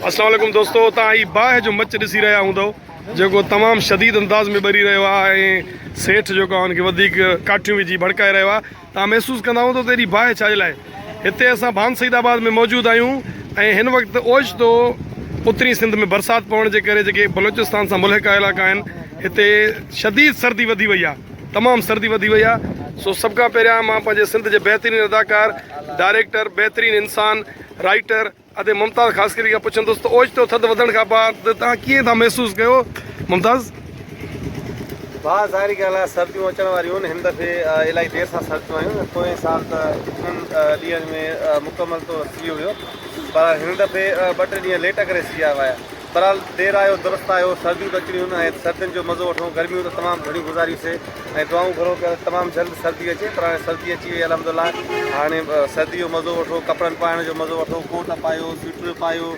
السلام عليڪم دوستو تان هي باهه جو مچ ڏسي رهيا هوندو جيڪو تمام شديد انداز ۾ ٻري رهيو آهي ۽ سيٺ جيڪو آهي ان کي وڌيڪ ڪاٺيون وجهي ڀڙڪائي رهيو آهي تان محسوس ڪندا هوندو ته ايڏي باهه ڇا جي لاء هتي اسان ڀان سيد آباد ۾ موجود آهيون ۽ هن وقت اوچتو اترين سنڌ ۾ برسات پوڻ جي ڪري جيڪي بلوچستان سان ملحقه علائقا آهن هتي شديد سردي وڌي وئي آهي تمام سردي وڌي وئي آ سو سڀ کان پهريان مان پنهنجي سنڌ جي بهترين اداڪار ڊائريڪٽر بهترين انسان رائيٽر ادي ممتاز خاصخيلي کان پڇندس ته اوچتو ٿڌ وڌڻ کان بعد توهان ڪيئن ٿا محسوس ڪيو ممتاز ڀا ظاهري ڳالهه آهي سرديون اچڻ واريون آهن هن دفعي الائي دير سان سرديون آيون پوئين سال ته اترن ڏينهن ۾ مڪمل طور سيء هيو پر هن دفعي ٻه ٽي ڏينهن ليٽ ڪري سيء آيو آهي بھرحال دير آيو درست آيو، سرديون ته اچڻيون ھن ۽ سردين جو مزو وٺون، گرميون ته تمام گھڻيون گذاريون سي ۽ دعائون گھرون پيا ته تمام جلد سردي اچي پر ھاڻي سردي اچي وئي الحمد لله ھاڻي سردي جو مزو وٺو، ڪپڙن پائڻ جو مزو وٺو، ڪوٽ پايو، سوئٽر پايو،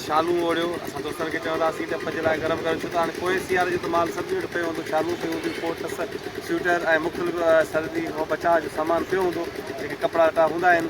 شالون اوڙھيو، اسان دوستن کي چوندا ھئاسين ته پنھنجي لاء گرم ڪريو ڇو ته ھاڻي پوئين سياري جو ته مال سڀني وٽ پيو ھوندو، شالون پيون ھونديون، ڪوٽ، سوئٽر ۽ مختلف سردي کان بچاء جو سامان پيو ھوندو، جيڪي ڪپڙا لٽا ھوندا آھن.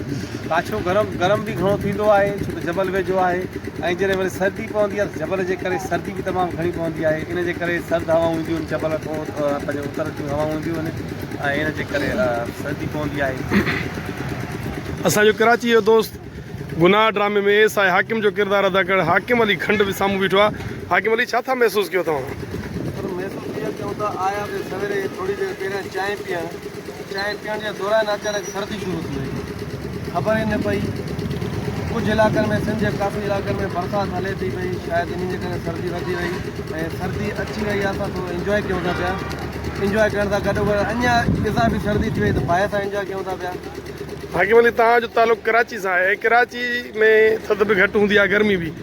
ڪاڇو گرم گرم به گهڻو ٿيندو آهي ڇو ته جبل ويجهو آهي ۽ جڏهن وري سردي پوندي آهي ته جبل جي ڪري سردي به تمام گهڻي پوندي آهي ان جي ڪري سرد هوائون اينديون آهن جبل کان پنهنجي اتر جون هوائون اينديون آهن ۽ ان جي ڪري سردي پوندي آهي. اسان جو ڪراچي جو دوست گناهه ڊرامي ۾ ايس آء حاڪم جو ڪردار ادا ڪرڻ حاڪم علي کنڊ به سامهون بيٺو آهي حاڪم علي ڇا ٿا محسوس ڪيو توهان. سر محسوس ايئن ٿيو ته آيا به سويري ٿوري دير پهريان چانهه پيئڻ. چانهه پيئڻ جي دوران اچانڪ سردي شروع ٿي وئي. خبر ئي نه پئي. ڪجهه علائقن ۾ سنڌ جي ڪافي علائقن ۾ برسات هلي ٿي پئي شايد انهي جي ڪري سردي وڌي وئي ۽ سردي اچي وئي آهي اسان ٿورو انجواء ڪيون ٿا پيا انجواء ڪرڻ سان گڏو گڏ اڃا اضافي سردي ٿي وئي ته باهه سان انجواء ڪيون ٿا پيا. ڀاڳيون علي توهان جو تعلق ڪراچي سان آهي ڪراچي ۾ ٿڌ به گهٽ هوندي آهي گرمي به.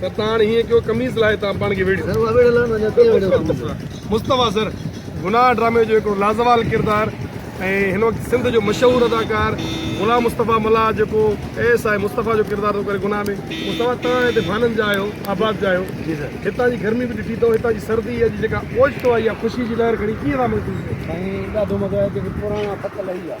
ستاڻ هيئن ڪيو قميص لاهي تان پاڻ کي ويڙهيو. مصطفيٰ سر گناهه ڊرامي جو هڪڙو لازوال ڪردار ۽ هن وقت سنڌ جو مشهور اداڪار غلام مصطفيٰ ملاح جيڪو اي ايس آء مصطفيٰ جو ڪردار ٿو ڪري گناهه ۾ مصطفيٰ توهان هتي ڀانن جا آهيو آباد جا آهيو هتان جي گرمي به ڏٺي اٿو هتان جي سردي اڄ جيڪا اوچتو آئي آهي خوشي جي لهر کڻي ڪيئن ٿا محسوس ڪيو سائين ڏاڍو مزو آيو جيڪي پراڻا پڪ لهي ويا.